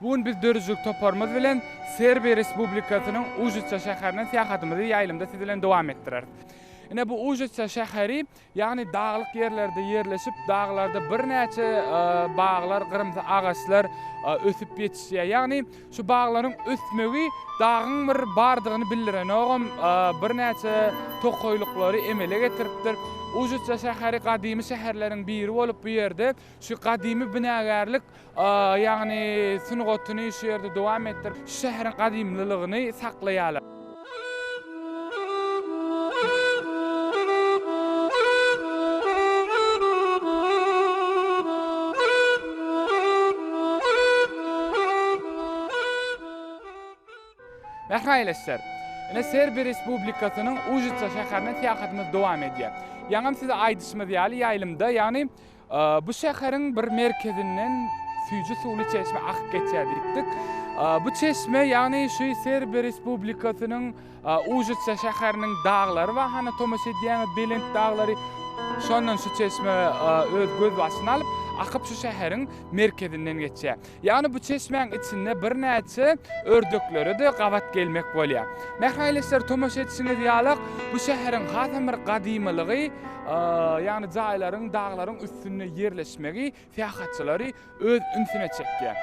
Bu gün biz döredijilik toparymyz bilen Serbiýa Respublikasynyň Užica şäherine syýahatymyzy ýaýlymda siz bilen dowam etdireris. Ine bu Užica şäheri Ýagny daglyk ýerlerde ýerleşip, daglarda birnäçe baglar, gyrymsy agaçlar ösüp ýetişýär. Ýagny şu baglaryň ösmegi dagyň bir bardygyny bildirenogam, birnäçe tokaýlyklary emele getiripdir. Ujyca şäheri gadymy şäherleriň biri bolup, bu ýerde şu gadymy binagärlik ýagny sungatyny şu ýerde dowam etdirip, şu şäheriň gadymlylygyny saklaýarlar. Mähriban ýeleşler! Ine, Serbi Respublikasynyň Užica şäherine syýahatymyz dowam edýär. Ýaňam size aýdyşymyz ýaly, ýaýlymda, ýagny Bu şäheriň bir merkezinden süýji suwly çeşme akyp geçýär diýipdik. Bu çeşme, ýagny şu Serbiýa Respublikasynyň Užice şäheriniň daglary bar, hany tomaşa edýäňiz, belent daglary. Şondan şu çeşme öz gözbaşyny alyp, akyp şu şäheriň merkezinden geçýär. Ýagny bu çeşmäň içinde birnäçe ördeklere-de gabat gelmek bolýar. Mähraýleşler, tomaşa edişiňiz ýalak, bu şäheriň hasam bir gadymylygy, ýagny jaýlaryň daglaryň üstünde ýerleşmegi syýahatçylary öz ünsüne çekýär.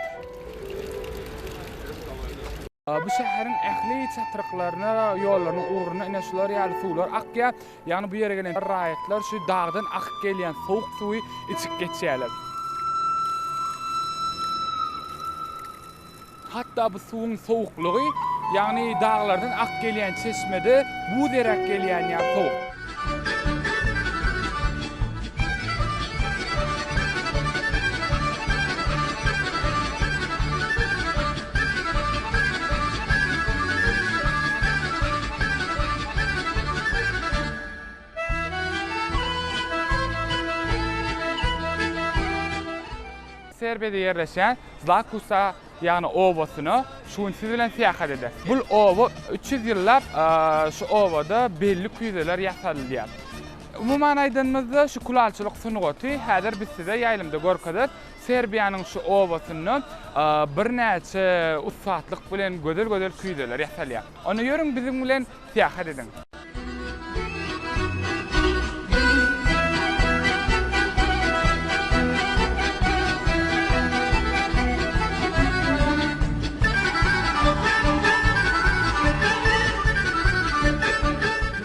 Bu şäheriň ähli çatryklaryna, ýollarynyň ugruna ine şular ýaly suwlar akýar. Ýagny bu ýere gelen raýatlar şu dagdan akyp gelýän sowuk suwy içip geçýärler. Hatda bu suwuň sowuklygy, ýagny daglardan akyp gelýän çeşmede buz eräp gelýän ýaly sowuk. Serbiýada ýerleşýän Zlakusa, ýagny obasyna şu gün siz bilen syýahat eder. Bul oba üç ýüz ýyllap şu obada belli küýzeler ýasalylýar. Umuman aýdanymyzda şu kulalçylyk sungaty häzir biz size ýaýlymda görkezip, Serbiýanyň şu obasynda birnäçe ussatlyk bilen gözel-gözel küýzeler ýasalýar. Onda ýörüň biziň bilen syýahat ediň.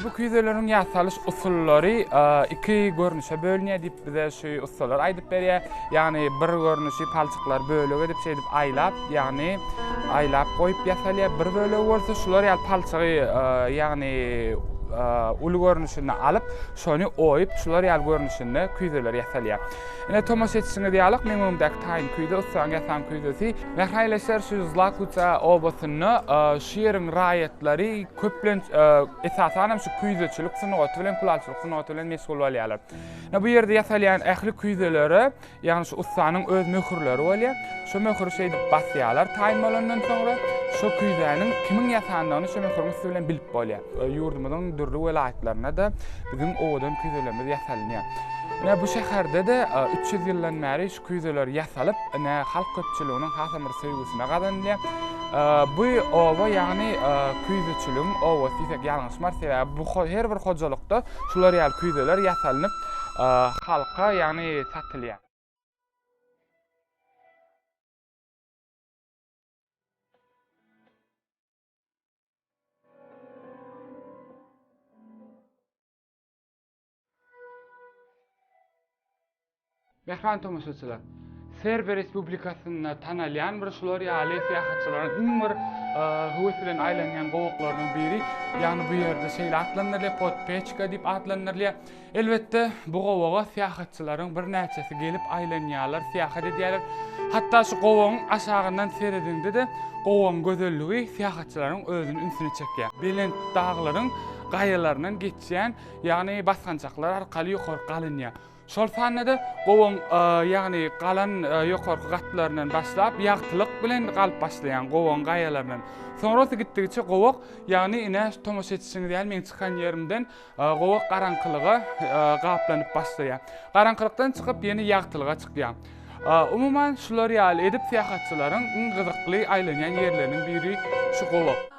Bu küýzeleriň ýasalyş usullary iki görnüşe bölünýär diýip bize şu ussalar aýdyp berýär. Ýagny bir görnüşi palçyklary bölek edip şeýdip aýlap, ýagny aýlap goýup ýasalýar. Bir bölegi bolsa şular ýaly palçygy, ýagny uly görnüşinde alyp, şony oýup, şular ýaly görnüşinde küýzeler ýasalýar. Ine, tomaşa etişiňiz ýalyk, meň öňümdäki taýyn küýze, ussaň ýasan küýzesi. Mähraý leşer, şu Zlakwica obasynda şu ýeriň raýatlary köplenç, esasanam şu küýzeçilik sungaty bilen, kulalçylyk sungaty bilen meşgul bolýarlar. Bu ýerde ýasalýan ähli küýzelere, ýagny şu ussanyň öz möhürleri bolýar. Şu möhüri şeýdip basýarlar taýyn bolandan soňra. Şu küýzäniň kimiň ýasandygyny şu möhüriň üsti bilen bilip bolýar. Ýurdumyzyň dürli welaýatlarynda-da biziň owadan küýzelerimiz ýasalynýar. Ine, bu şäherde-de üç ýüz ýyldan bäri Küýzeler ýasalyp, ine, halk köpçüliginiň hasam bir söýgüsini gazanylýar. Bu oba, ýagny küýzeçiligiň obasy diýsek ýalňyşmarys, sebäbi bu her bir hojalykda şular ýaly küýzeler ýasalynyp, halka, ýagny satylýar. Mähriban tomaşaçylar, Serbiýa Respublikasynda tanalýan bir şular ýaly syýahatçylaryň iň bir höwes bilen aýlanýan gowaklarynyň biri, ýagny bu ýerde şeýle atlandyrylýar, podpeçka diýip atlandyrylýar. Elbetde, bu gowaga syýahatçylaryň birnäçesi gelip aýlanýarlar, syýahat edýärler. Hatda şu gowagyň aşagyndan serediňde-de, gowagyň gözelligi syýahatçylaryň özüni ünsüne çekýär. Belent daglaryň gaýalaryndan geçýän ýagny basgançaklar arkaly ýokarky alynýar. Şol sanda-da gowaň, ýagny galan ýokarky gatlaryndan başlap, ýagtylyk bilen galyp başlaýan gowaň gaýalaryndan. Soňra gitdigiçe gowak, ýagny ine tomaşa etişiňiz ýaly meň çykan ýerimden gowak garaňkylyga gaplanyp başlaýar. Garaňkylykdan çykyp ýene ýagtylyga çykýar. Umuman, şular ýaly edip syýahatçylaryň iň gyzykly aýlanýan ýerleriniň biri şu gowak.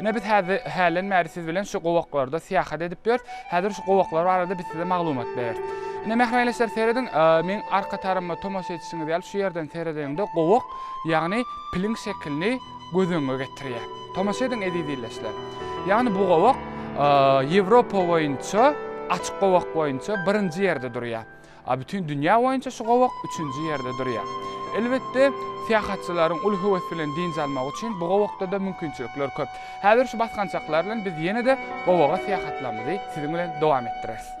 Ine, biz häzi, hälen bäri siz bilen şu gowaklarda syýahat edip ýörüs. Häzir şu gowaklar barada biz size maglumat bereris. Ine, mähribaýleşler, serediň, meň arka taryma tomaşa edişiňiz ýaly şu ýerden seredeniňde gowak, ýagny piliň şekilini göz öňüňe getirýär. Tomaşa ediň, eziz illeşler. Ýagny bu gowak Ýewropa boýunça, açyk gowak boýunça birinji ýerde durýar. A bütin dünýä boýunça şu gowak üçünji ýerde durýar. Elbetde, syýahatçylaryň uly höwes bilen dynç almagy üçin bu gowakda-da mümkinçilikler köp. Häzir şu basgançaklar bilen biz ýene-de gowaga syýahatlarymyzy siziň bilen dowam etdireris.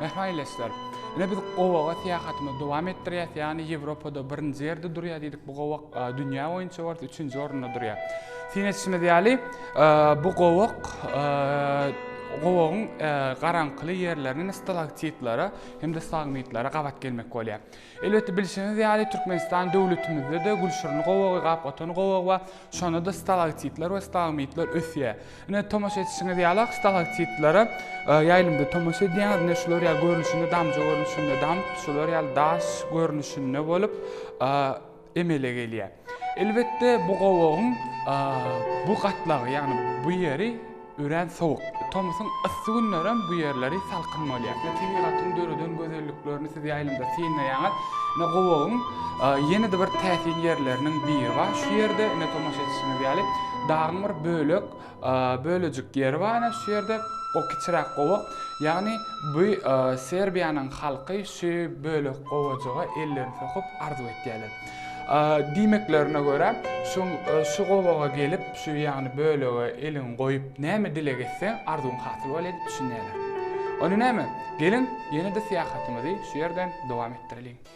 Mehmaýleşler, Ine biz gowaga syýahatymyzy dowam etdirýäs, ýagny Ýewropada birinji ýerde durýar diýdik, bu gowak dünýä boýunça bolsa üçünji orunda durýar. Syn edişimiz ýaly, bu gowak gowagyň garaňkyly ýerlerinden stalaktitlere hem-de stagmitlere gabat gelmek bolýar. Elbetde bilşiňiz ýaly Türkmenistan döwletimizde-de gülşirni gowagy, gapgatan gowagy bar. Şonda-da stalaktitler we stalagmitler ösýär. Ine, tomaşa etişiňiz ýaly-ak stalaktitlere ýaýlymda tomaşa edýäňiz. Ine, şular ýaly görnüşinde damja görnüşinde damp, şular ýaly daş görnüşinde bolup, emele gelýär. Elbetde bu gowagyň bu gatlagy, ýagny bu ýeri örän sowuk. Tomusyň yssy günlerem bu ýerleri salkyn bolýar. Ine tebigatyň döreden gözelliklerini siz ýaýlymda synlaýaňyz. Ine gowagyň ýene-de bir täsin ýerleriniň biri bar şu ýerde. Ine tomaşa etişiňiz ýaly dagyň bir bölek Bölejik ýeri bar ene şu ýerde o kiçiräk gowak ýagny bu serbiýanyň halky şu bölek gowajyga ellerini sokup arzuw etýärler diýmeklerine görä şu şu gowaga gelip şu ýagny bölege eliňi goýup näme dileg etseň arzuwyň hasyl bolýar diýip düşünýärler ony näme geliň ýene-de syýahatymyzy şu ýerden dowam etdireliň.